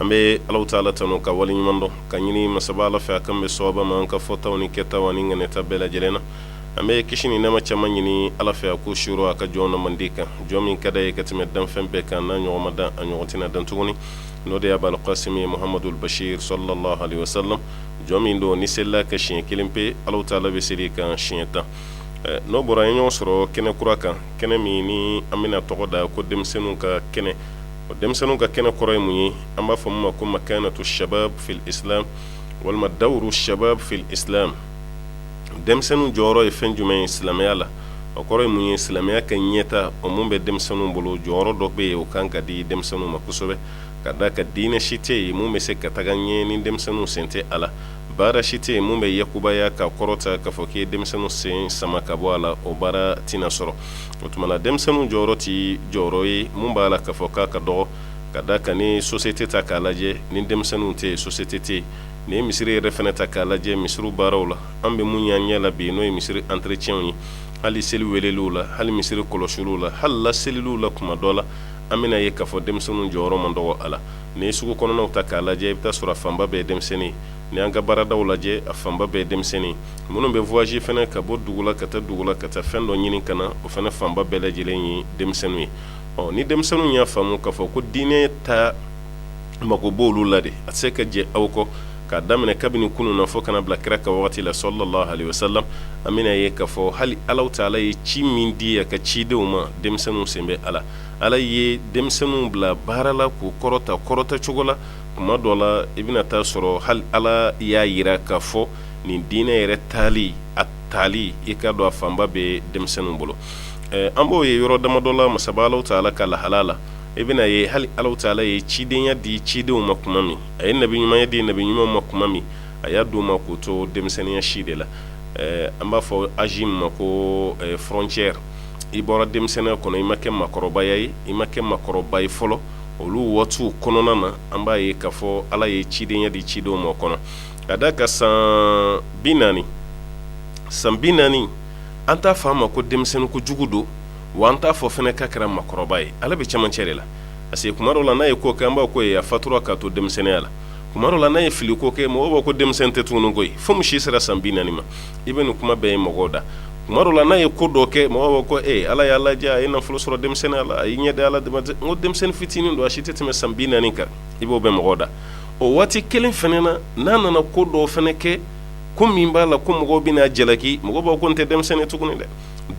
an bɛ ala ta ala tanu ka wale ɲuman dɔn ka ɲini masaba ala fɛ a k'an bɛn sawaba ma an ka fɔtaw ni kɛtaw ni ŋaniyata bɛɛ lajɛlen na an bɛ kisi ni nɛɛma caman ɲini ala fɛ a k'o suuru a ka jɔnnamandi kan jɔn min ka di a ye ka tɛmɛ danfɛn bɛɛ kan n'a ɲɔgɔn ma dan a ɲɔgɔn tɛna dan tuguni n'o de ye abal kasimi muhamadul basiri salalahu alayihi wasalamu jɔn min don n'i selila a kan siɲɛ kelen pe ala ta ala bɛ seli i kan siɲɛ tan n'o bɔra ɲɔgɔn sɔrɔ kɛnɛ kura kan kɛnɛ min ni an bɛna a tɔgɔ da ko denmisɛnninw ka kɛnɛ o denmisɛnninw ka kɛnɛ kɔrɔ ye mun ye an b'a fɔ min ma ko makanatu shabab fil islam walima dawuru shabab fil islam denmisɛnninw jɔyɔrɔ ye fɛn jumɛn ye silamɛya la o kɔrɔ ye mun ye silamɛya ka ɲɛtaa o min bɛ denmisɛnninw bolo jɔyɔrɔ dɔ bɛ yen o ka kan ka di denmisɛnninw ma kosɛbɛ ka d'a kan diinɛ si tɛ yen min bɛ se ka taga ɲɛ ni denmisɛnninw sen tɛ a la baara si tɛ yen min bɛ yakubaya ka kɔrɔta ka fɔ k'i ye denmisɛnninw sen sama ka bɔ a la o baara tɛna sɔrɔ o tuma na denmisɛnninw jɔyɔrɔ tɛ jɔyɔrɔ ye min b'a la ka fɔ k'a ka dɔgɔ ka d'a kan n'i société ta k'a lajɛ ni denmisɛnninw tɛ société tɛ ni misiri yɛrɛ fana ta k'a lajɛ misiriw baaraw la an bɛ min ye an ɲɛ la bi n'o ye misiri entretien ye hali seli weleli la hali misiri kɔlɔsili la hali laseliliw la kuma dɔ la an bɛna a ye k'a fɔ denmisɛnninw jɔyɔrɔ man dɔgɔ a la n'i sugu kɔnɔnaw ta k'a lajɛ i bɛ taa sɔrɔ fanba bɛɛ ye denmisɛnnin n'i y'an ka baaradaw lajɛ a fanba bɛɛ denmisɛnnin minnu bɛ voyage fana ka bɔ dugu la ka taa dugu la ka taa fɛn dɔ ɲini ka na o fana fanba bɛɛ lajɛlen ye denmisɛnninw ye o ni denmisɛnninw y'a faamu k'a fɔ ko diinɛ ta mago b' olu la de a tɛ se ka jɛ aw kɔ k'a daminɛ kabini kunun na fo ka na bila kira ka waati la salalahu alayihi wasalamu an bɛna a ye k'a fɔ hali ala ta ala ye ci min di a ka cidenw ma denmisɛnninw sen b'a la ala ye denmisɛnninw bila baara la k'u kɔrɔta kɔrɔta cogo la kuma dɔ la i bɛna taa sɔrɔ hali ala y'a yira ka fɔ nin diinɛ yɛrɛ tali a tali i ka don a fanba bɛ denmisɛnnin bolo an b'o ye yɔrɔ dama dɔ la masaba ala ta ala ka lahala la i bɛna a ye hali ala ta ala ye cidenya di cidenw ma kuma min a ye nabi ɲumanya di nabi ɲumanw ma kuma min a y'a d'u ma k'u to denmisɛnninya si de la an b'a fɔ âge min ma ko frontière i bɔra denmisɛnninya kɔnɔ i ma kɛ makɔrɔba ye i ma kɛ makɔrɔba ye fɔlɔ olu waati kɔnɔna na an b'a ye k'a fɔ ala ye cidenya di cidenw ma a kɔnɔ ka d'a kan san bi naani san bi naani an t'a fa a ma ko denmisɛnnin kojugu don wa an t'a fɔ fana k'a kɛra makɔrɔba ye ale bɛ camancɛ de la parce que kuma dɔ la n'a ye ko kɛ an b'a ko ye a fatura k'a to denmisɛnninya la kuma dɔ la n'a ye fili ko kɛ mɔgɔ ko denmisɛnnin tɛ tugun ko ye fo si sera san bi naani ma i bɛ nin kuma bɛɛ ye mɔgɔw da kuma dɔ la n'a ye ko dɔ kɛ mɔgɔ ko e ala y'a lajɛ a ye nafolo sɔrɔ denmisɛnnin la a ye ɲɛ ala dama ko denmisɛnnin fitinin don a si tɛ tɛmɛ san bi naani kan i b'o bɛ mɔgɔ da o waati kelen fana na n'a nana ko dɔ fana kɛ ko min b'a la ko mɔgɔw bɛna jalaki mɔgɔ b'a ko nin tɛ denmisɛnnin tuguni dɛ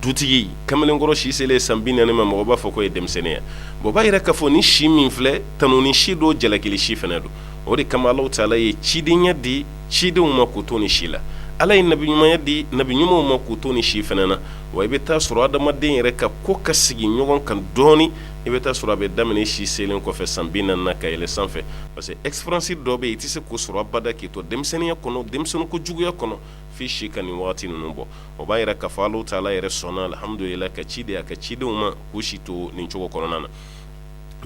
dutigi kamalenkɔrɔ si selen san bi naani ma mɔgɔ b'a fɔ ko ye denmisɛnninya bɔn b'a yira k'a fɔ nin si min filɛ tanuni si don jalakili si fana don o de kama ala taala ye cidenya di cidenw ma k'u to nin si la ala ye nabi ɲumanya di nabi ɲumanw ma k'u to nin si fana na wa i bɛ taa sɔrɔ adamaden yɛrɛ ka ko ka sigi ɲɔgɔn kan dɔɔnin i bɛ taa sɔrɔ a bɛ daminɛ si selen kɔfɛ san bi naani ka yɛlɛ sanfɛ parce que expérience dɔ bɛ yen i tɛ se ko sɔrɔ abada k'i to denmisɛnninya kɔnɔ denmisɛnnin ko juguya kɔnɔ f'i si ka nin waati ninnu bɔ o b'a yira k'a fɔ alahu taala yɛrɛ sɔnna alihamudulilahi ka ci di a ka cidenw ma k'u si to nin cogo kɔnɔna na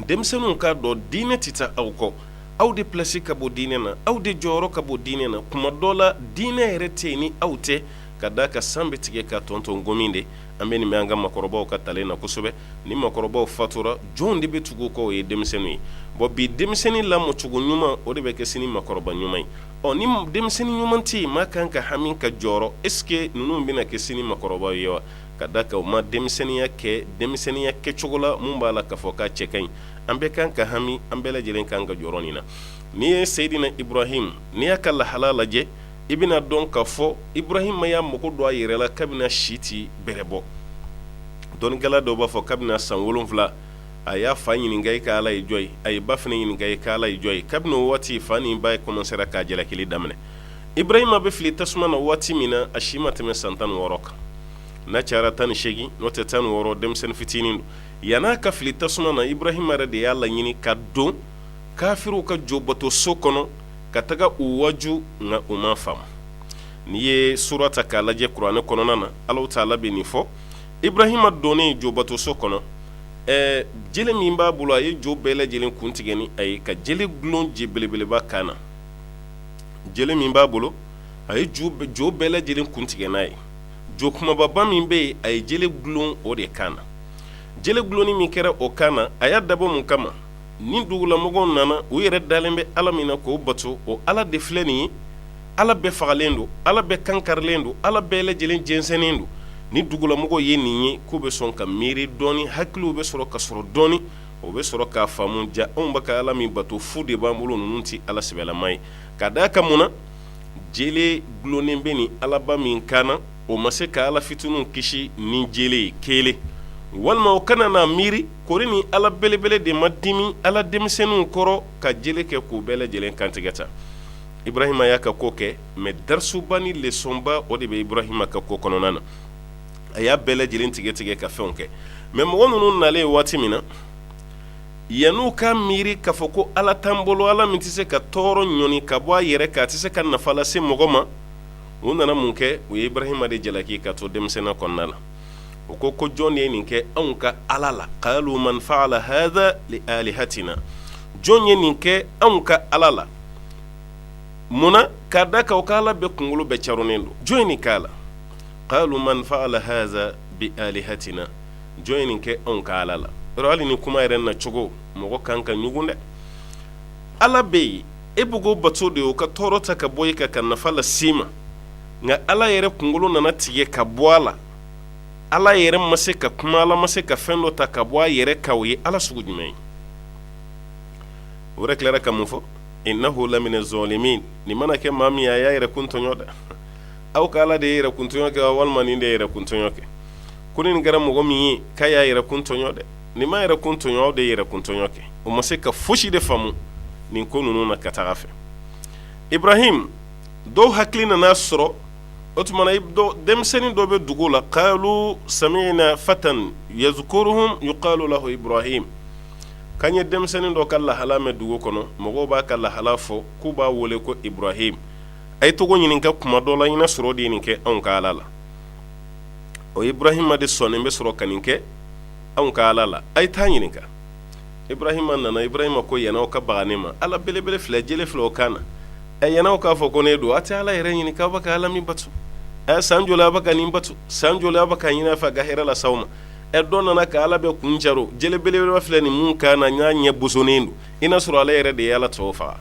denmisɛnninw k'a dɔn diinɛ tɛ taa aw kɔ aw de plasi ka bon diinɛ na aw de jɔyɔrɔ ka bon diinɛ na kuma dɔ la diinɛ yɛrɛ tɛ ni aw tɛ ka da ka san bɛ tigɛ ka tɔntɔn gomi de an bɛ nin bɛ an ka makɔrɔbaw ka talen na kosɛbɛ ni makɔrɔbaw fatura jɔn de bɛ tugu kɔ o ye denmisɛnninw ye bɔn bi denmisɛnnin lamɔcogo ɲuman o de bɛ kɛ sini makɔrɔba ɲuman ye ɔ ni denmisɛnnin ɲuman tɛ yen maa kan ka hami ka jɔrɔ est-ce que ninnu bɛna kɛ sini makɔrɔba ye wa ka da ka u ma denmisɛnninya kɛ denmisɛnninya kɛcogo la min b'a la k'a fɔ k'a cɛ ka ɲi an bɛɛ kan ka hami an bɛɛ lajɛlen kan ka jɔrɔ nin na n'i ye seyidina ibrahim n'i y'a ka lahala lajɛ i bɛn'a dɔn k'a fɔ ibrahima y'a mago don a yɛrɛ la kabini si tɛ bɛrɛ bɔ dɔnnikɛla dɔw b'a fɔ kabini san wolonwula a y'a fa ɲininka i ka ala ye jɔn ye a ye ba fana ɲininka i ka ala ye jɔn ye kabini o waati fa ni ba kɔmansera k'a jalakili daminɛ ibrahima bɛ fili tasuma na waati min na a si ma tɛmɛ san tan ni wɔɔrɔ kan n'a cayara tan ni segin n'o tɛ tan ni wɔɔrɔ denmisɛnnin fitinin don Yan'a ka fili tasuma na ibrahima yɛrɛ de y'a laɲini ka don kafiriw ka jo bato so kɔnɔ ka taga u waju nka u ma faamu n'i ye sura ta k'a lajɛ kuranɛ kɔnɔna na ala taala bɛ nin fɔ ibrahima donnen jo bato so kɔnɔ jele min b'a bolo a ye jo bɛɛ lajɛlen kun tigɛ ni a ye ka jele gulon jo belebeleba kan na jele min b'a bolo a ye jo bɛɛ lajɛlen kun tigɛ n'a ye jo kumababa min bɛ yen a ye jele gulon o de kan na jele gulonni min kɛra o kan na a y'a dabɔ mun kama ni dugulamɔgɔw nana u yɛrɛ dalen bɛ ala min na k'o bato o ala de filɛ nin ye ala bɛɛ fagalen don ala bɛɛ kan karilen don ala bɛɛ lajɛlen jɛnsɛnnen don ni dugulamɔgɔw ye nin ye k'u bɛ sɔn ka miiri dɔɔnin hakiliw bɛ sɔrɔ ka sɔrɔ dɔɔnin o bɛ sɔrɔ k'a faamu ja anw bɛ ka ala min bato fu de b'an bolo ninnu tɛ ala sɛbɛlama ye ka da a ka mun jele dulonnen bɛ nin alaba min kan na o ma se ka ala fitininw kisi ni jele ye kelen walima u kana n'a miiri kori ni ala belebele de ma dimi ala denmisɛnninw kɔrɔ ka jele kɛ k'u bɛɛ lajɛlen kantigɛ ta ibrahima y'a ka ko kɛ mɛ darusuba ni lesɔnba o de bɛ ibrahima ka ko kɔnɔna na a y'a bɛɛ lajɛlen tigɛ tigɛ ka fɛnw kɛ mɛ mɔgɔ ninnu nalen waati min na yann'u ka miiri k'a fɔ ko ala t'an bolo ala min tɛ se ka tɔɔrɔ ɲɔni ka bɔ a yɛrɛ kan a tɛ se ka nafa lase mɔgɔ ma u nana mun kɛ u ye ibrahima de jalaki ka to denmisɛnninya kɔnɔna la u ko ko jɔn de ye nin kɛ anw ka ala la qalu man fa'ala hadha li alihatina jɔn ye nin kɛ anw ka ala la munna k'a da kan o ka ala bɛɛ kunkolo bɛɛ caronnen don jɔn ye nin k'a la qalu man fa'ala hadha bi alihatina jɔn ye nin kɛ anw ka ala la hali ni kuma yɛrɛ na cogo mɔgɔ kan ka ɲugun dɛ ala bɛ yen e bɛ k'o bato de o ka tɔɔrɔ ta ka bɔ e kan ka nafa lase i ma nka ala yɛrɛ kunkolo nana tigɛ ka bɔ a la ala yɛrɛ ma se ka kuma ala ma se ka fɛn dɔ ta ka bɔ a yɛrɛ kan o ye ala sugu jumɛn ye o yɛrɛ tilara ka mun fɔ innahu lamina zalimin nin mana kɛ maa min a y'a yɛrɛ kun tɔɲɔ dɛ aw ka ala de ye yɛrɛ kun tɔɲɔ kɛ walima nin de ye yɛrɛ kun tɔɲɔ kɛ ko nin kɛra mɔgɔ min ye k'a y'a yɛrɛ kun tɔɲɔ dɛ nin ma yɛrɛ kun tɔɲɔ aw de ye yɛrɛ kun tɔɲɔ kɛ o ma se ka foyisi de faamu nin ko ninnu na ka taga fɛ ibrahim dɔw hakili nana sɔrɔ o tuma denmisɛnnin dɔ bɛ dugu la qalu sami'na fatan yazkuruhum yuqalu lahu ibrahim k'an ye denmisɛnnin dɔ ka lahala mɛn dugu kɔnɔ mɔgɔw b'a ka lahala fɔ k'u b'a wele ko ibrahim a ye taga o ɲininka kuma dɔ la i n'a sɔrɔ o de ye nin kɛ anw ka ala la o ibrahima de sɔnnen bɛ sɔrɔ ka nin kɛ anw ka ala la a ye taa ɲininka ibrahima nana ibrahima ko yann'a ka baga ne ma ala belebele filɛ jele filɛ o kan na yann'a k'a fɔ ko ne don a tɛ ala yɛrɛ ɲininka a bɛ ka ala min bato san joli a bɛ ka nin bato san joli a bɛ ka ɲini a fɛ ka hɛrɛ lase a ma ɛ dɔ nana ka ala bɛɛ kun caron jele belebeleba filɛ nin min kan na n'a ɲɛ bosonnen don i n'a sɔrɔ ala yɛrɛ de ye ala tɔw faga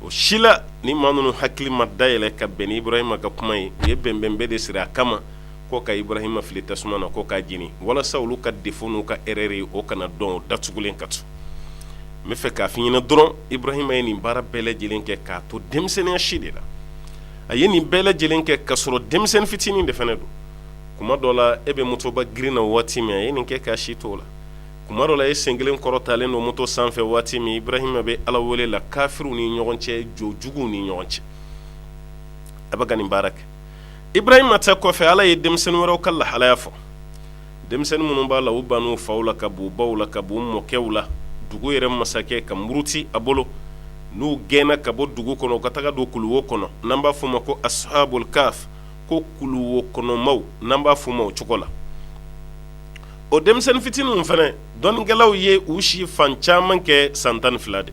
o si la ni maa ninnu hakili ma dayɛlɛ ka bɛn ni ibrahima ka kuma ye u ye bɛnbɛn bɛɛ de siri a kama ko ka ibrahima fili tasuma na ko k'a jeni walasa olu ka défaut n'u ka erreur ye o kana dɔn o datugulen ka to n b'a fɛ k'a fɔ i ɲɛna dɔrɔn ibrahima ye nin baara bɛɛ lajɛlen kɛ k'a to denmisɛnninya si de la a ye nin bɛɛ lajɛlen kɛ ka sɔrɔ denmisɛnnin fitinin de fana don kuma dɔ la e bɛ motoba girin na waati min a ye nin kɛ k'a si to o la tuma dɔ la e sen kelen kɔrɔtalen don moto sanfɛ waati min Iburahima bɛ Ala wele la kafiriw ni ɲɔgɔn cɛ jɔn juguw ni ɲɔgɔn cɛ a bɛ ka nin baara kɛ Iburahima ta kɔfɛ Ala ye denmisɛnnin wɛrɛw ka lahalaya fɔ denmisɛnnin minnu b'a la u banna u faw la ka b'u baw la ka b'u mɔkɛw la dugu yɛrɛ masakɛ ka muruti a bolo n'u gɛnna ka bɔ dugu kɔnɔ u ka taga don kuluwo kɔnɔ n'an b'a f'u ma ko ashabul kaf ko kuluwo kɔnɔmaw n'an b'a f'u ma o cogo la o denmisɛnnin fitininw fana dɔnnikɛlaw ye u si fan caman kɛ san tan ni fila de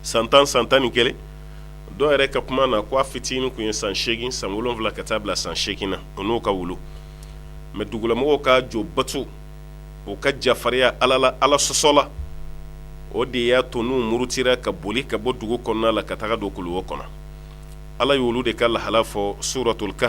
san tan san tan ni kelen dɔw yɛrɛ ka kuma na ko a fitinin kun ye san segin san wolonwula ka taa bila san segin na u n'u ka wulu mɛ dugulamɔgɔw ka jo bato u ka jafarinya ala la ala sɔsɔ la o de y'a to n'u murutira ka boli ka bɔ dugu kɔnɔna la ka taga don kuluwo kɔnɔ ala y'olu de ka lahala fɔ suratuli ka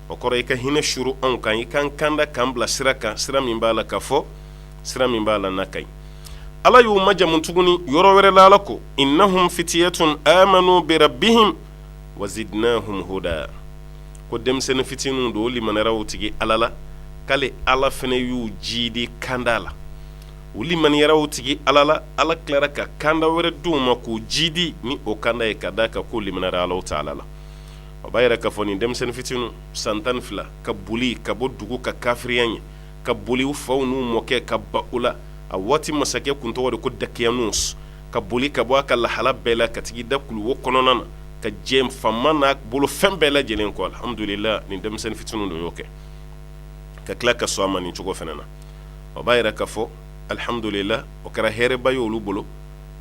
o kɔrɔ i ka hinɛ suuru anw kan i k'an kanda k'an bila sira kan sira min b'a la ka fɔ sira min b'a la n'a ka ɲi ala y'u majamu tuguni yɔrɔ wɛrɛ la ala ko innahum fitiyatun amanu birabbihim wa zidnahum huda ko denmisɛnnin fitininw don u limaniyara u tigi ala la k'ale ala fana y'u jidi kanda la u limaniyara u tigi ala la ala tilara ka kanda wɛrɛ d'u ma k'u jidi ni o kanda ye ka d'a kan k'u limaniyara ala taala la o b'a yira ka fɔ nin denmisɛnnin fitininw san tan ni fila ka boli ka bɔ dugu ka kafiriya ye ka boli u faw n'u mɔkɛ ka ban u la a waati masakɛ kun tɔgɔ de ko dakiyanus ka boli ka bɔ a ka lahala bɛɛ la ka tag'i da kuluwo kɔnɔna na ka jɛn faama n'a bolofɛn bɛɛ lajɛlen kɔ alihamdulilahi nin denmisɛnnin fitininw de y'o kɛ ka tila ka sɔn a ma nin cogo fana na o b'a yira ka fɔ alihamdulilahi o kɛra hɛrɛba ye olu bolo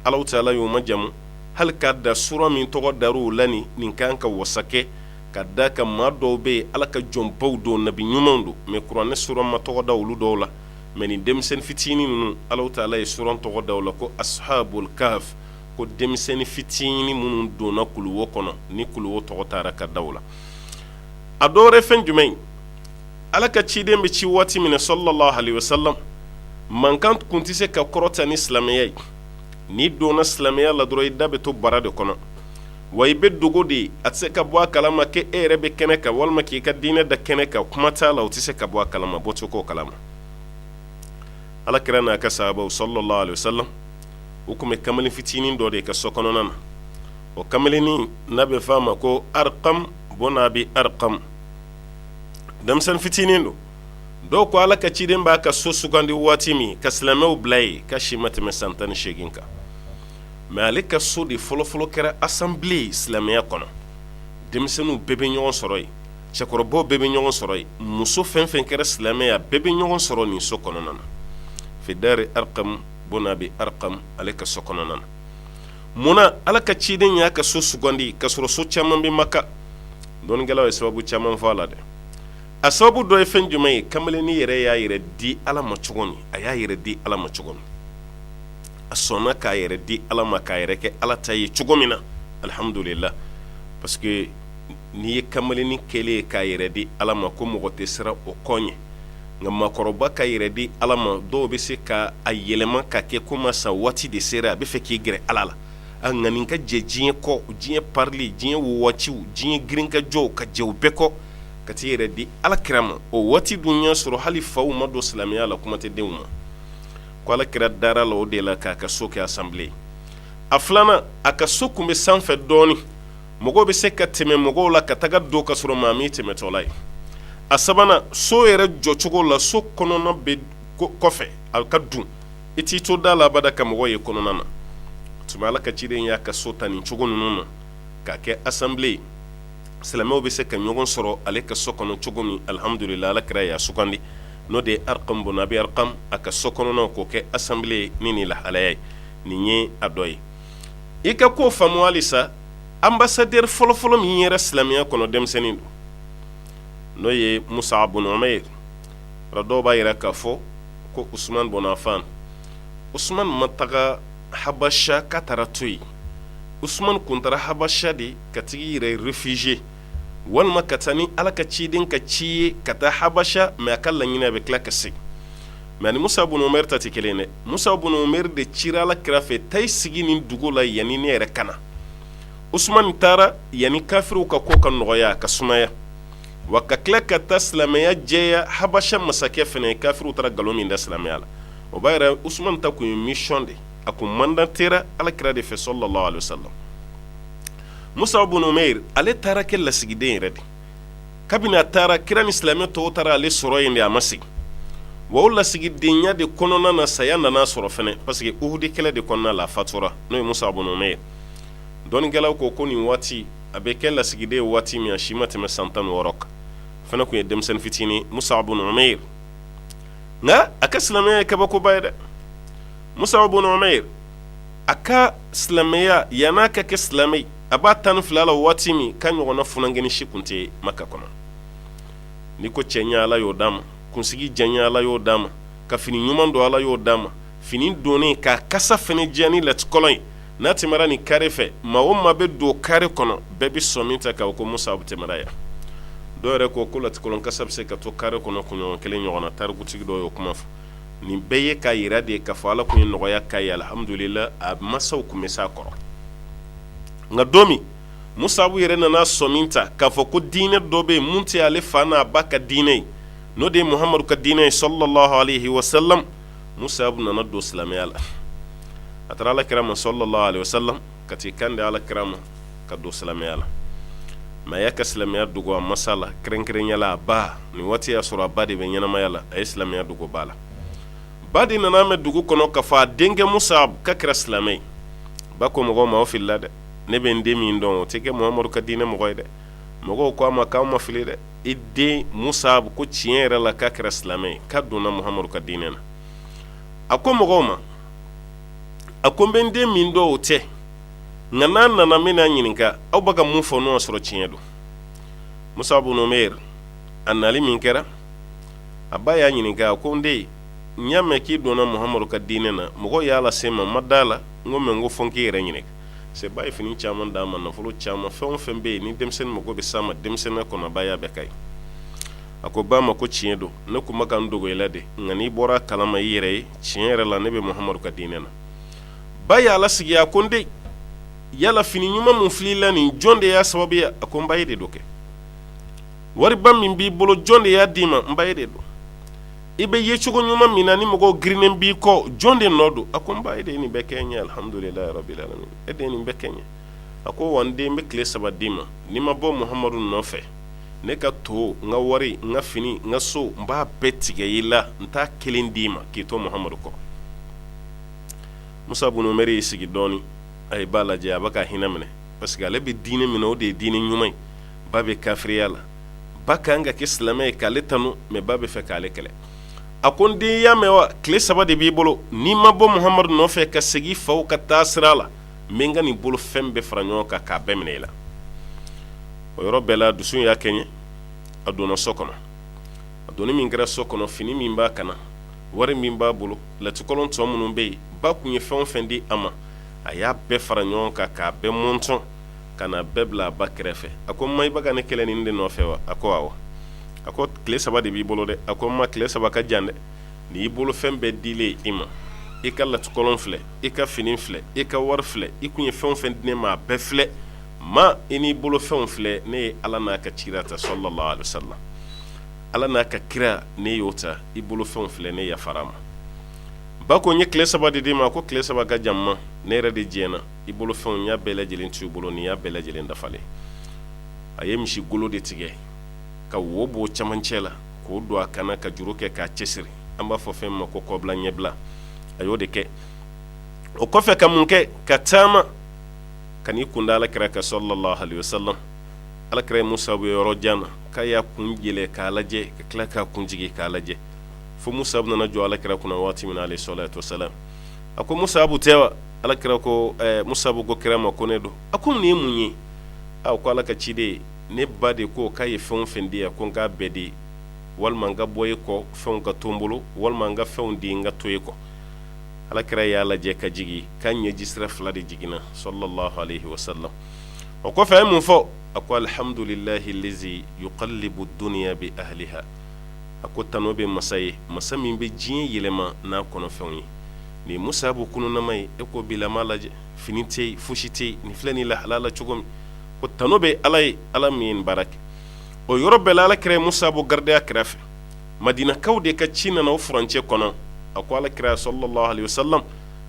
ala taala y'u majamu hali k'a da suran min tɔgɔ dara u la ni nin kan ka wasa kɛ ka d'a kan maa dɔw bɛ yen ala ka jɔnbaw don nabi ɲumanw don mɛ kuranɛ suran ma tɔgɔ da olu dɔw la mɛ nin denmisɛnnin fitinin ninnu ala taala ye suran tɔgɔ da u la ko ashabul kaf ko denmisɛnnin fitinin minnu donna kuluwo kɔnɔ ni kuluwo tɔgɔ taara ka da u la a dɔw fɛn jumɛn ala ka ciden bɛ ci waati min na salalahu alayihi wasalam mankan kun tɛ se ka kɔrɔta ni silamɛya ye n'i donna silamɛya la dɔrɔn i da bɛ to bara de kɔnɔ wa i bɛ dogo de ye a tɛ se ka bɔ a kalama k'e yɛrɛ bɛ kɛnɛ kan walima k'i ka diinɛ da kɛnɛ kan kuma t'a la o tɛ se ka bɔ a kalama bɔcogo kalama ala kira n'a ka sahabaw salalahu alayihi wasalam u tun bɛ kamalen fitinin dɔ de ka so kɔnɔna na o kamalennin n'a bɛ f'a ma ko arakamu bunu abi arakamu denmisɛnnin fitinin don dɔw ko ala ka ciden b'a ka so sugandi waati min ka silamɛw bila yen k'a si ma tɛmɛ san tan ni segin kan mais ale ka so de fɔlɔfɔlɔ kɛra assemblée silamɛya kɔnɔ denmisɛnninw bɛɛ bɛ ɲɔgɔn sɔrɔ yen cɛkɔrɔbaw bɛɛ bɛ ɲɔgɔn sɔrɔ yen muso fɛn fɛn kɛra silamɛ ye bɛɛ bɛ ɲɔgɔn sɔrɔ nin so kɔnɔna na fi dari arqam bun abi arqam ale ka so kɔnɔna na munna ala ka ciden y'a ka so sugandi ka sɔrɔ so caman bɛ maka dɔnnikɛlaw ye sababu caman fɔ a la dɛ a sababu dɔ ye fɛn jumɛn ye kamalennin yɛrɛ y'a yɛrɛ di ala ma cogo min a y'a yɛrɛ di ala ma cogo min a sɔnna k'a yɛrɛ di ala ma k'a yɛrɛ kɛ ala ta ye cogo min na alihamdulilahi parce que n'i ye kamalennin kelen ye k'a yɛrɛ di ala ma ko mɔgɔ tɛ siran o ko ɲɛ nka maakɔrɔba k'a yɛrɛ di ala ma dɔw bɛ se ka a yɛlɛma ka kɛ komi a sa waati de sera a bɛ fɛ k'i gɛrɛ ala la a nka nin ka jɛ diɲɛ kɔ diɲɛ parili diɲɛ wagatiw diɲɛ girinkajɔw ka jɛ u bɛɛ kɔ ka t'i yɛrɛ di ala kira ma o waati dun y'a sɔrɔ hali faw ma don silamɛya la kuma tɛ denw ma ko ala kira dara la o de la k'a ka so kɛ assemblée a filanan a ka so kun bɛ sanfɛ dɔɔnin mɔgɔ bɛ se ka tɛmɛ mɔgɔw la ka taga don ka sɔrɔ maa m'i tɛmɛtɔla ye a sabanan so yɛrɛ jɔcogo la so kɔnɔna bɛ kɔfɛ a ka dun i t'i to da la abada ka mɔgɔ ye kɔnɔna na tuma ala ka ciden y'a ka so ta nin cogo ninnu na k'a kɛ assemblée ye silamɛw bɛ se ka ɲɔgɔn sɔrɔ ale ka so kɔnɔ cogo min alihamdulila ala kira y'a sugandi n'o de ye arqam bun abi arqam a ka so kɔnɔna k'o kɛ assemblée ni nin lahalaya ye nin ye a dɔ ye i ka ko faamu halisa ambassadeur fɔlɔfɔlɔ min yera silamɛya kɔnɔ denmisɛnnin don n'o ye musab bun umair bari dɔw b'a yira k'a fɔ ko usman bun affan usman ma taga habasha ka taga to yen usman kun taara habasha de ka tag'i yɛrɛ réfugier walima ka taa ni ala ka ciden ka ci ye ka taa habasha mais a ka laɲini a bɛ tila ka segin mais ni musab bun umair ta tɛ kelen dɛ musab bun umair de cira ala kira fɛ taa i sigi nin dugu la yanni ne yɛrɛ ka na usman taara yanni kafiriw ka ko ka nɔgɔya ka sumaya wa ka tila ka taa silamɛya jɛya habasha masakɛ fana ye kafiriw taara nkalon min da silamɛya la o b'a yira usman ta kun ye mission de a kun mandatera ala kira de fɛ sallallahu alaihi wasallam musab bun umair ale taara kɛ lasigiden yɛrɛ de kabini a taara kira ni silamɛ tɔw taara ale sɔrɔ yen de a ma segin wa o lasigidenya de kɔnɔna na saya nan'a sɔrɔ fana parce que uhud kɛlɛ de kɔnɔna la a fatura n'o ye musab bun umair dɔnnikɛlaw ko ko nin waati a bɛ kɛ lasigiden ye waati min a si ma tɛmɛ san tan ni wɔɔrɔ kan fana tun ye denmisɛnnin fitinin musabu bun umayr nka a ka silamɛya ye kabakoba ye dɛ musabu bun umayr a ka silamɛya yann'a ka kɛ silamɛ a b'a tan ni fila la waati min k'a ɲɔgɔn funankɛnin si tun tɛ maka kɔnɔ ni ko cɛɲɛ ala y'o d'a ma kunsigi janya ala y'o d'a ma ka fini ɲuman don ala y'o d'a ma fini donnen k'a kasa fana diya ni latikɔlɔn ye n'a tɛmɛna nin carré fɛ maa o maa bɛ don carré kɔnɔ bɛɛ bɛ sɔmi ta k'a fɔ ko Musabu tɛmɛna yan dɔw yɛrɛ ko ko latikɔlɔn kasa bɛ se ka to carré kɔnɔ kunɲɔgɔn kelen ɲɔgɔnna tarikutigi dɔw y'o kuma fɔ nin bɛɛ ye k'a jira de k'a fɔ Ala tun ye nɔgɔya k'a ye alihamudulila a mansaw tun bɛ s'a kɔrɔ nka don min Musabu yɛrɛ nana sɔmi ta k'a fɔ ko diinɛ dɔ bɛ yen mun tɛ ale fa n'a ba ka diinɛ ye n'o de ye Muhamadu ka diinɛ ye salalahu alayhi wasalamu musabu nana don silamɛya la a taara ala kira ma salalahu alayhi wasalamu ka t'i kan di ala kira ma ka don silamɛya la mais a y'a ka silamɛya dogo a masa la kɛrɛnkɛrɛnya la a ba nin waati y'a sɔrɔ a ba de bɛ ɲɛnamaya la a ye silamɛya dogo ba la ba de nan'a mɛn dugu kɔnɔ k'a fɔ a denkɛ musabu k'a kɛra silamɛ ye ba ko mɔgɔw ma aw filila dɛ ne bɛ n den min dɔn o tɛ kɛ muhamadu ka diinɛ mɔgɔ ye dɛ mɔgɔw ko a ma k'aw ma fili dɛ i den musabu ko tiɲɛ yɛrɛ la k'a kɛra silamɛ ye k'a donna muhamadu ka diinɛ na a ko mɔgɔw ma a ko n bɛ n den min dɔn o tɛ nka n'a nana n bɛn'a ɲininka aw bɛ ka mun fɔ n'o y'a sɔrɔ tiɲɛ don musabu bun umayr a nali min kɛra a ba y'a ɲininka a ko n den n y'a mɛn k'i donna muhamadu ka diinɛ na mɔgɔw y'a lase n ma n ma d'a la n ko mais n ko fo n k'i yɛrɛ ɲini c'est ba ye fini caman d'a ma nafolo caman fɛn o fɛn bɛ yen ni denmisɛnnin mako bɛ s'a ma denmisɛnninya kɔnɔ a ba y'a bɛɛ k'a ye a ko ba ma ko tiɲɛ don ne tun bɛ ka n dogo i la de nka n'i bɔra kalama i yɛrɛ ye tiɲɛ yɛrɛ la ne bɛ muhamadu ka diinɛ na ba y'a lasigi a ko n den yala fini ɲuman min filɛ i la nin jɔn de y'a sababu ye a ko n ba e de don kɛ wariba min b'i bolo jɔn de y'a d'i ma n ba e de don i bɛ ye cogo ɲuman min na ni mɔgɔw girinnen b'i kɔ jɔn de nɔ don a ko n ba e de ye nin bɛɛ kɛ n ye alihamudulilahi rabil alamin e de ye nin bɛɛ kɛ n ye a ko wa n den n bɛ tile saba d'i ma n'i ma bɔ muhamadu nɔfɛ ne ka to n ka wari n ka fini n ka so n b'a bɛɛ tigɛ i la n t'a kelen d'i ma k'i to muhamadu kɔ musabu bun umayr y'i sigi dɔɔnin a ye ba lajɛ a bɛ ka hinɛ minɛ parce que ale bɛ diinɛ min na o de ye diinɛ ɲuman ye ba bɛ kafiriya la ba ka kan ka kɛ silamɛ ye k'ale ale tanu mɛ ba bɛ fɛ k'ale kɛlɛ a ko n den y'a mɛn wa tile saba de b'i bolo n'i ma bɔ muhamadu nɔfɛ ka segin faw ka taa sira la n bɛ n ka nin bolo fɛn bɛɛ fara ɲɔgɔn kan k'a bɛɛ minɛ i la o yɔrɔ bɛɛ la dusu y'a kɛ ɲɛ a donna so kɔnɔ a donni min kɛra so kɔnɔ fini min b'a kan na wari min b'a bolo latikɔlɔn tɔ minnu bɛ yen ba tun ye fɛn fɛn di a ma a y'a bɛɛ fara ɲɔgɔn kan k'a bɛɛ mɔntɔn ka na bɛɛ bila a ba kɛrɛfɛ a ko ma i bɛ ka ne kɛlɛ nin de nɔfɛ wa a ko awɔ a ko tile saba de b'i bolo dɛ a ko ma tile saba ka jan dɛ n'i bolo fɛn bɛɛ dilen i ma i ka latikɔlɔn filɛ i ka fini filɛ i ka wari filɛ i tun ye fɛn fɛn di ne ma a bɛɛ filɛ ma i n'i bolo fɛnw filɛ ne ye ala n'a ka cira ta salalahu aleyihi wasalam ala n'a ka kira ne y'o ta i bolo fɛn filɛ ne yafara ma ba ko n ye tile saba de d'i ma ko tile saba ka jan ma ne yɛrɛ de diɲɛna i bolo fɛnw n y'a bɛɛ lajɛlen t'u bolo nin y'a bɛɛ lajɛlen dafalen a ye misi golo de tigɛ ka wo b'o camancɛ la k'o don a kan na ka juru kɛ k'a cɛsiri an b'a fɔ fɛn ma ko kɔbila ɲɛbila a y'o de kɛ o kɔfɛ ka mun kɛ ka taama ka n'i kun da ala kira kan salalahu aleyihi wasalam ala kira ye musabu yɔrɔ jan na k'a y'a kun yɛlɛ k'a lajɛ ka tila k'a kun jigin k'a lajɛ fo musabu nana jɔ ala kira kunna waati min na aleyihi salatu wasalam a ko musabu tɛ wa ala kira ko musabu ko kira ma ko ne don a ko nin ye mun ye a ko ala ka ciden ne ba de ko k'a ye fɛn fɛn di yan ko n k'a bɛɛ di walima n ka bɔ e kɔ fɛnw ka to n bolo walima n ka fɛnw di n ka to e kɔ ala kira y'a lajɛ ka jigin k'a ɲɛji sira fila de jiginna salalahu aleyihi wasalam o kɔfɛ a ye mun fɔ a ko alihamdulilahi lazi yukalibu duniya bi ahaliha a ko tanu bɛ masa ye masa min bɛ diɲɛ yɛlɛma n'a kɔnɔfɛnw ye nin musabu kununama ye e ko bilama lajɛ fini tɛ yen fosi tɛ yen nin filɛ nin lahala la cogo min ko tanu bɛ ala ye ala min ye nin baara kɛ o yɔrɔ bɛɛ la ala kira ye musabu garide a kɛrɛfɛ madinakaw de ka ci nana o furancɛ kɔnɔ a ko ala kira salalahu aleyihi wasalam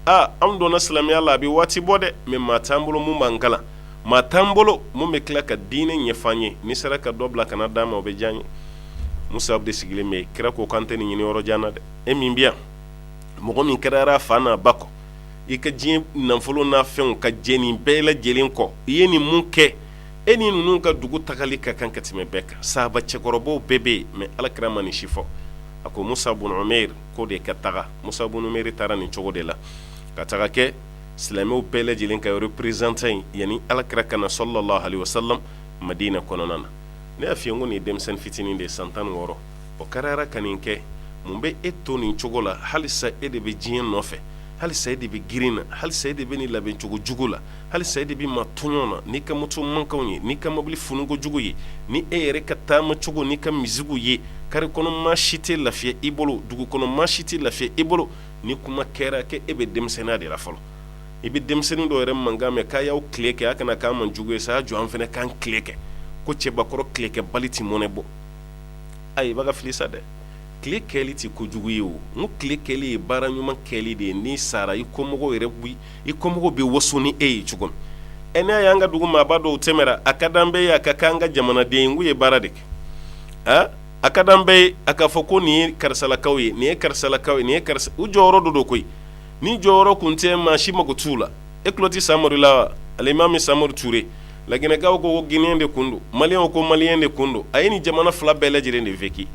aa anw donna silamɛya la a bɛ waati bɔ dɛ mɛ maa t'an bolo min b'an kalan maa t'an bolo min bɛ tila ka diinɛ ɲɛf'an ye n'i sera ka dɔ bila ka na d'an ma o bɛ diya an ye musabu de sigilen bɛ kira ko k'an tɛ nin ɲini yɔrɔ jan na dɛ e min bi yan mɔgɔ min kɛra fa n'a ba kɔ i ka diɲɛ nafolo n'a fɛnw ka jɛn nin bɛɛ lajɛlen kɔ i ye nin min kɛ e ni ninnu ka dugu tagali ka kan ka tɛmɛ bɛɛ kan sahaba cɛkɔrɔbaw bɛɛ bɛ yen mɛ ala kira ma nin si fɔ a ko musabu bun umɛri k'o de ka taga musabu bun umɛri taara nin cogo de la ka taga kɛ silamɛw bɛɛ lajɛlen ka représentant yani ala kira ka na sallallahu alaihi wasallam madina kɔnɔna na ne y'a f'i ye n ko nin ye denmisɛnnin fitinin de ye san tan wɔɔrɔ o kɛra ka nin kɛ mun bɛ e to nin cogo la halisa e de bɛ diɲɛ nɔfɛ halisa e de bɛ grin na halisa e de bɛ nin labɛncogo jugu la halisa e de bɛ maa tɔɲɔ na n'i ka moto mankanw ye n'i ka mobili funuko jugu ye ni e yɛrɛ ka taamacogo n'i ka misikiw ye kari kɔnɔ maa si tɛ lafiya i bolo dugu kɔnɔ maa si tɛ lafiya i bolo ni kuma kɛra kɛ e bɛ denmisɛnninya de la fɔlɔ i bɛ denmisɛnnin dɔw yɛrɛ mankan mɛn k'a y'aw tile kɛ a kana kɛ maa jugu ye sa a ye jɔ an fana k'an tile kɛ ko cɛbakɔrɔ tilekɛbali tɛ mɔnɛ bɔ ayi i bɛ ka fili sa dɛ tile kɛli tɛ ko jugu ye o n ko tile kɛli ye baara ɲuman kɛli de ye n'i sara i kɔmɔgɔw yɛrɛ koyi i kɔmɔgɔw bɛ waso ni e ye cogo min n'a y'an ka dugu maaba dɔw tɛmɛra a ka di an bɛɛ ye a ka kɛ an ka jamanaden ye n ko u ye baara de kɛ a ka d'an bɛɛ ye a ka fɔ ko nin ye karisalakaw ye nin ye karisalakaw ye nin ye karisa u jɔyɔrɔ dɔrɔn don koyi ni jɔyɔrɔ tun tɛ maa si mako t'u la e tulo tɛ samori la wa alimami samori ture laginɛkaw ko gineyɛn de tun don maliyɛnw ko maliyɛn de tun don a ye nin jamana fila bɛɛ lajɛ lajɛlen de vécu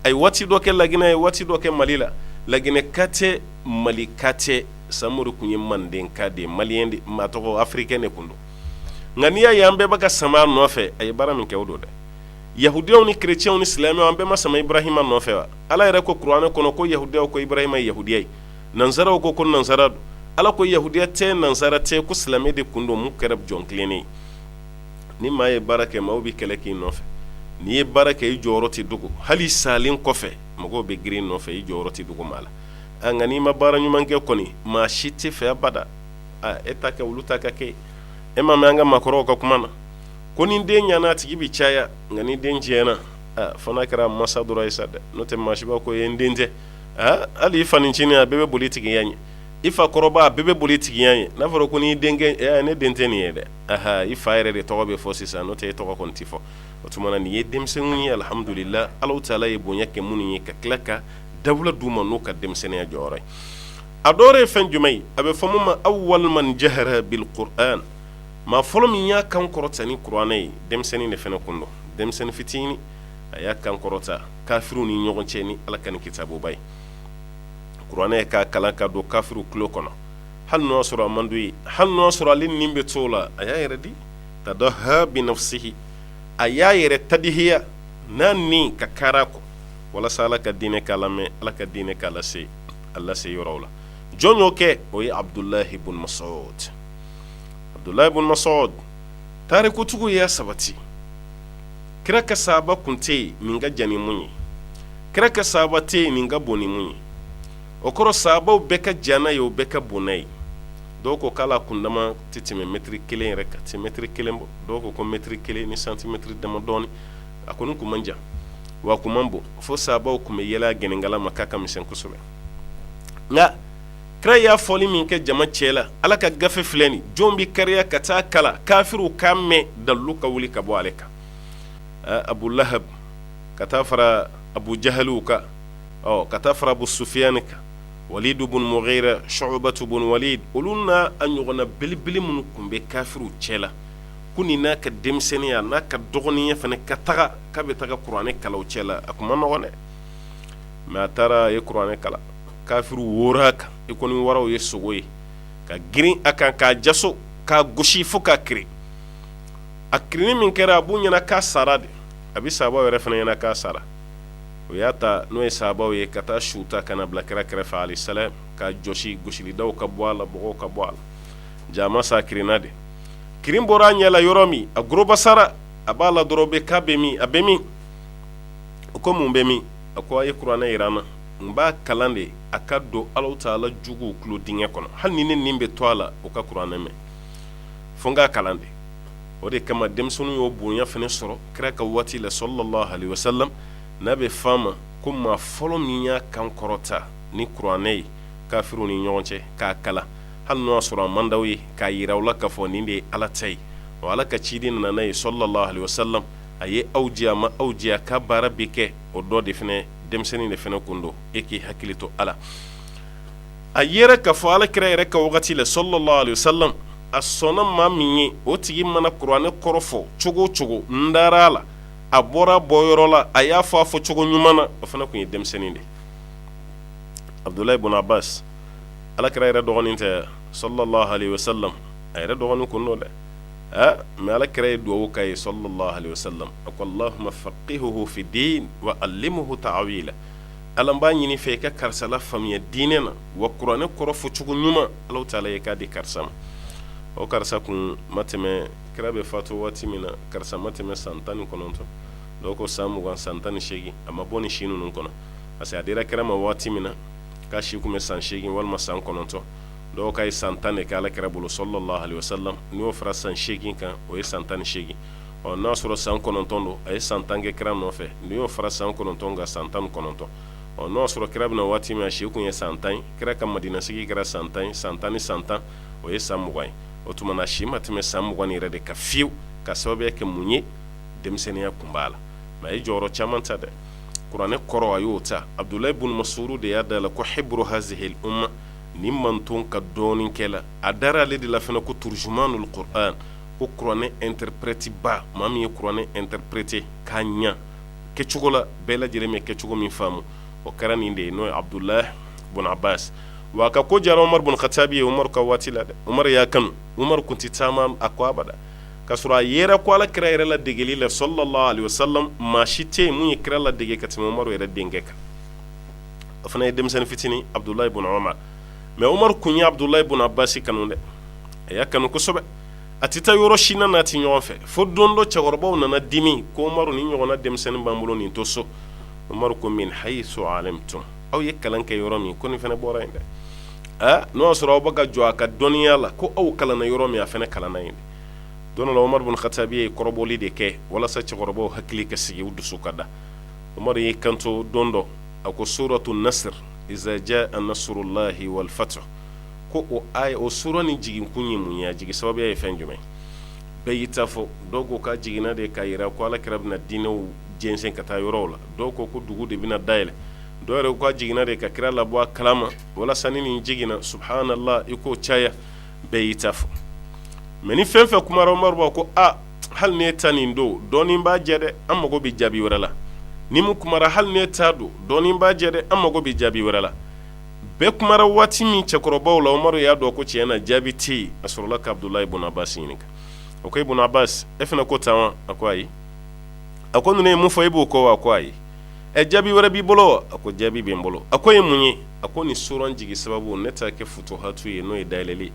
a ye waati dɔ kɛ laginɛ a ye waati dɔ kɛ mali la laginɛka tɛ malika tɛ samori tun ye mandenka de ye maliyɛn de maa tɔgɔ afirikɛn de tun don nka n'i y'a ye an bɛɛ bɛ ka sama a nɔfɛ a ye baara min kɛ o don dɛ yahudiyaw ni kerecɛnw ni silamɛw an bɛɛ ma sama ibrahima nɔfɛ wa ala yɛrɛ ko kuranɛ kɔnɔ ko yahudiyaw ko ibrahima ye yahudiya ye nansaraw ko ko nansara don ala ko yahudiya tɛ nansara tɛ ko silamɛ de kun don min kɛra jɔn tilennen ye ni maa ye baara kɛ maaw bɛ kɛlɛ k'i nɔfɛ n'i ye baara kɛ i jɔyɔrɔ tɛ dogo hali i salen kɔfɛ mɔgɔw bɛ girin i nɔfɛ i jɔyɔrɔ tɛ dogo maa la a nka n'i ma baara ɲuman kɛ kɔni maa si t'i fɛ abada a e ta kɛ olu ta ka kɛ e m'a mɛn an ka maakɔrɔw ka kuma na ko ni den ɲana a tigi bɛ caya nka ni den tiɲɛna fo n'a kɛra masa dɔrɔn ye sa dɛ n'o tɛ maa si b'a ko ye n den tɛ hali i fa ncinin a bɛɛ bɛ boli tigiya ɲɛ i fa kɔrɔba a bɛɛ bɛ boli tigiya ɲɛ n'a fɔra ko n' ne den tɛ nin ye dɛ aɔn i fa yɛrɛ de tɔgɔ bɛ fɔ sisan n'o tɛ e tɔgɔ tɛ fɔ o tuma nin ye denmisɛnninw ye alihamdulila ala taala ye bonya kɛ minnu ye ka tila ka dawula d'u ma n'u ka denmisɛnninya jɔyɔrɔ ye a dɔ wɛrɛ ye fɛn jumɛn ye a bɛ f'a ma awwalu man jahara bi maa fɔlɔ min y'a kan kɔrɔta ni kuranɛ ye denmisɛnnin de fana kun don denmisɛnnin fitinin a y'a kan kɔrɔta kafiriw ni ɲɔgɔn cɛ ni ala ka nin kitabuba ye kuranɛ k'a kalan k'a don kafiriw tulo kɔnɔ hali n'o y'a sɔrɔ a man d'u ye hali n'o y'a sɔrɔ ale ni bɛ to o la a y'a yɛrɛ di tadaha bi nafsihi a y'a yɛrɛ tadihiya n'a ni ka kara kɔ walasa ala ka diinɛ ka lamɛn ala ka diinɛ ka lase a lase yɔrɔ la jɔn y'o kɛ o ye abudulayi bun masudu ye ibun masudu tariku tugu y'a sabati kira ka sahaba kun tɛ yen nin ka jan ni min ye kira ka sahaba tɛ nin ka bon ni min ye o kɔrɔ sahabaw bɛɛ ka jan n'a ye o bɛɛ ka bon n'a ye dɔw ko k'ale kundama tɛ tɛmɛ mɛtiri kelen yɛrɛ kan tɛ mɛtiri kelen bɔ dɔw ko mɛtiri kelen ni santimɛtiri dama dɔɔni a kɔni kun man jan wa a kun man bon fo sahabaw kun bɛ yɛlɛ a gɛnɛnkala ma k'a ka misɛn kosɛbɛ kira y'a fɔli min kɛ jama cɛ la ala ka gafe filɛ nin jɔn bɛ kari ka taa a kalan kafiw k'a mɛn dalu ka wuli ka bɔ ale kan abu lahabu ka taa fara abu jahaliw kan ɔ ka taa fara abu sufiyani kan walidu bun mugira shubatu bun walidi olu n'a ɲɔgɔnna belebele minnu kun bɛ kafiw cɛ la ko nin n'a ka denmisɛnninya n'a ka dɔgɔninya fana ka taga k'a bɛ taa kuranɛ kalan u cɛ la a kun man nɔgɔn dɛ mɛ a taara a ye kuranɛ kalan kafiriw kan i ko ni waraw ye sogo ye ka girin a kan k'a jaso k'a gosi fo k'a kirin a kirin min kɛra a b'u ɲɛ na k'a sara de a bɛ sahabaw yɛrɛ fana ɲɛ na k'a sara o y'a ta n'o ye sahabaw ye ka taa su ta ka n'a bila kira kɛrɛfɛ alayihi salam k'a jɔsi gosilidaw ka bɔ a la bɔgɔw ka bɔ a la jaa sa kirinna de kirin bɔra a ɲɛ la yɔrɔ min a gorobasara a b'a la dɔrɔn bɛ k'a bɛ min a bɛ min o ko mun bɛ min a ko a ye kuranɛ yira n na n b'a kalan de a ka don ala taala juguw tulo dingɛ kɔnɔ hali ni ne nin bɛ to a la o ka kuranɛ mɛn fo n k'a kalan de o de kama denmisɛnnin y'o bonya fana sɔrɔ kira ka waati la salalahu alayihi wasalam n'a bɛ f'a ma ko maa fɔlɔ min y'a kan kɔrɔta ni kuranɛ ye kafiriw ni ɲɔgɔn cɛ k'a kalan hali n'o y'a sɔrɔ a man d'aw ye k'a yira aw la k'a fɔ nin de ye ala ta ye wa ala ka ciden nana n'a ye salalahu alayihi wasalam a ye aw jiya a ma aw jiya a ka baara bɛ kɛ o dɔ de fɛnɛ denmisɛnnin de fɛnɛ kun don e k'i hakili to a la a yɛrɛ ka fɔ ala kira yɛrɛ ka wagati la salalahu alayihi wasalam a sɔnna maa min ye o tigi mana kuranɛ kɔrɔ fɔ cogo o cogo n dara a la a bɔra bɔ yɔrɔ la a y'a fɔ a fɔ cogo ɲuman na o fana kun ye denmisɛnnin de ye abudulayi bun abasi ala kira yɛrɛ dɔgɔnin tɛ salalahu alayihi wasalam a yɛrɛ dɔgɔnin kun don dɛ mɛ ala kira ye dugawu k'a ye salalahu alayihi wasalam a ko alahuma fakihihu fi dini wa alimuhu tawila ala n b'a ɲini i fɛ i ka karisa lafaamuya diinɛ na wa kuranɛ kɔrɔ fɔ cogo ɲuman ala taala i k'a di karisa ma o karisa kun ma tɛmɛ kira bɛ fatu waati min na karisa ma tɛmɛ san tan ni kɔnɔntɔn dɔw ko san mugan san tan ni segin a ma bɔ ni si ninnu kɔnɔ parce que a dira kira ma waati min na k'a si kun bɛ san segin walima san kɔnɔntɔn dɔw k'a ye san tan de kɛ ala kira bolo salalahu alayihi wasalamu n'o fara san seegin kan o ye san tan ni seegin ɔ n'a y'a sɔrɔ san kɔnɔntɔn don a ye san tan kɛ kira nɔfɛ n'i y'o fara san kɔnɔntɔn kan san tan kɔnɔntɔn ɔ n'o sɔrɔ kira bɛ na waati min a si tun ye san tan kira ka madina sigi kɛra san tan san tan ni san tan o ye san mugan ye o tuma n'a si ma tɛmɛ san mugan yɛrɛ de kan fiyewu ka sababu kɛ mun ye denmisɛnninya tun b'a la a ye jɔyɔrɔ caman ta dɛ kuranɛ kɔrɔ a y'o ta abudula bun masudu de y'a da a la ko hiburu hazihi al uma nin mantɔn ka dɔnnikɛla a dara ale de la fana ko turujumanul kurani ko kuranɛ interprèteba maa min ye kuranɛ interprété k'a ɲɛ kɛcogo la bɛɛ lajɛlen bɛ kɛcogo min faamu o kɛra nin de ye n'o ye abudula bun abasi wa a ka ko diyara umaru bun katabi ye umaru ka waati la dɛ umaru y'a kanu umaru tun tɛ taama a kɔ abada ka sɔrɔ a yɛrɛ ko ala kira yɛrɛ ladegeli la salalahu alayihi wasalamu maa si tɛ yen min ye kira ladege ka tɛmɛ umaru yɛrɛ denkɛ kan a fana ye denmisɛnnin fitinin abudula bun umaru mɛ umaru tun ye abudula bun abasi kanu dɛ a y'a kanu kosɛbɛ a tɛ taa yɔrɔ si na n'a tɛ ɲɔgɔn fɛ fo don dɔ cɛkɔrɔbaw nana dimi ko umaru nin ɲɔgɔnna denmisɛnnin b'an bolo nin to so umaru ko min hayisu alimutum aw ye kalan kɛ yɔrɔ min ko nin fana bɔra yen dɛ aa n'o y'a sɔrɔ aw bɛ ka jɔ a ka dɔnniya la ko aw kalanna yɔrɔ min a fana kalanna yen dɛ don dɔ umaru bun katabi ye kɔrɔbɔli de kɛ walasa cɛkɔrɔbaw hakili ka sigi u dusu ka da umaru y'i kanto don dɔ a ko suratu nasiri iza jaa nasurulahi walifatihu ko o aya o suran nin jiginkun ye mun ye a jigi sababuya ye fɛn jumɛn ye bɛɛ y'i ta fɔ dɔw ko k'a jiginna de k'a jira ko ala kira bɛna diinɛw jɛnsɛn ka taa yɔrɔw la dɔw ko ko dugu de bɛna dayɛlɛn dɔw yɛrɛ ko a jiginna de ka kira labɔ a kalama walasa ni nin jiginna subahanalahi i k'o caya bɛɛ y'i ta fɔ mɛ ni fɛn o fɛn kumara umaru b'a ko aa hali n'e ta nin don dɔɔnin b'a jɛ dɛ an mago bɛ jaabi wɛrɛ la ni min kumara hali n'e ta don dɔɔnin b'a jɛ dɛ an mago bɛ jaabi wɛrɛ la bɛɛ kumara waati min cɛkɔrɔbaw la umaru y'a dɔn ko tiɲɛ na jaabi tɛ yen a sɔrɔla ka abudula ibun abasi ɲininka o ko e ibun abasi e fana ko tan wa a ko ayi a ko ninnu ye mun fɔ e b'o kɔ wa ko ayi ɛ jaabi wɛrɛ b'i bolo a ko jaabi bɛ n bolo a ko o ye mun ye a ko nin suran jigin sababu ne t'a kɛ futuhatu ye n'o ye dayɛlɛnli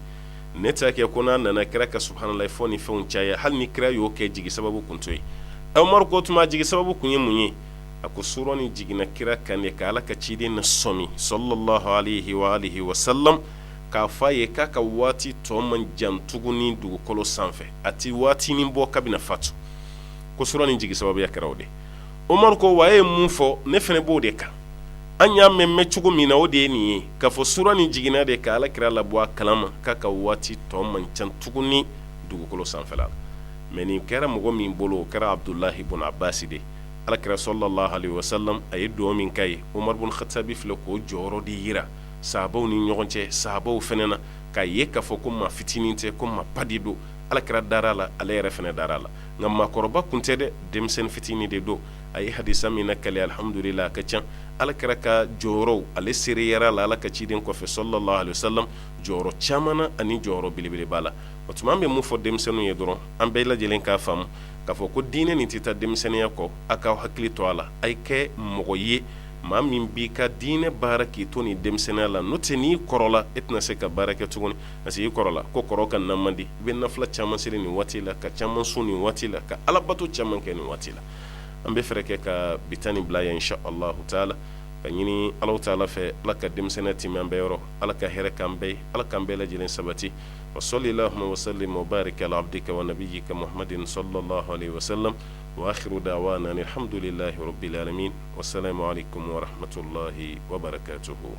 ne t'a kɛ ko n'a nana kira ka subahanalahi fɔ ni fɛnw caya hali ni kira y'o kɛ a jigi sababu tun t'o ye umaru ko o tuma a jigi sababu tun ye mun ye a ko suran nin jiginna kira kan de ka ala ka ciden nasɔmi salalahu alayihi wa alihi wasalamu k'a fɔ a ye k'a ka waati tɔ man jan tuguni dugukolo sanfɛ a tɛ waati nin bɔ k'a bɛna fatu ko suran nin jigi sababuya kɛra o de Umaru ko wa ye mun fɔ ne fana b'o de kan an y'a mɛn mɛn cogo min na o de ye nin ye k'a fɔ suran nin jiginna de ka ala kira labɔ a kalama k'a ka waati tɔ man jan tuguni dugukolo sanfɛ la mɛ nin kɛra mɔgɔ min bolo o kɛra abudulahi bun abasi de ala kira salalahu alayihi wasalamu a ye duwa min k'a ye umaru bun hatabi filɛ k'o jɔyɔrɔ de jira sahabaw ni ɲɔgɔn cɛ sahabaw fana na k'a ye k'a fɔ ko ma fitinin tɛ ko ma ba de don ala kira dara a la ala yɛrɛ fana dara a la nka maakɔrɔba kun tɛ dɛ denmisɛnnin fitinin de don a ye hadisa min nakali alihamdulilahi a ka ca ala kira ka jɔyɔrɔ ale seereya la ala ka ciden kɔfɛ salalahu alayihi wasalamu jɔyɔrɔ caman na ani jɔyɔrɔ belebeleba la o tuma n bɛ mun fɔ denmisɛnninw ye dɔrɔn an bɛɛ lajɛlen k'a faamu k'a fɔ ko diinɛ nin tɛ taa denmisɛnninya kɔ aw k'aw hakili to a la a ye kɛ mɔgɔ ye maa min b'i ka diinɛ baara k'i to ni denmisɛnninya la n'o tɛ n'i kɔrɔla e tɛna se ka baara kɛ tuguni parce que i kɔrɔla ko kɔrɔ ka na man di i bɛ nafila caman seli nin waati la ka caman sun nin waati la ka alabato caman kɛ nin waati la an bɛ fɛɛrɛ kɛ ka bi ta nin bila yan insala taala ka ɲini ala taala fɛ ala ka denmisɛnninya timɛ an bɛɛ yɔrɔ ala ka hɛrɛ kɛ an bɛɛ ala k'an bɛɛ lajɛlen sabati wa salilahuma wa salimu wa bariki ala abudika wa nabiyika mahamadin salalahu alayihi wasalamu wa akiru dawana alihamdulilahi rabili alamina wasalamu alayikumu warahamatulahi wabarakatuhu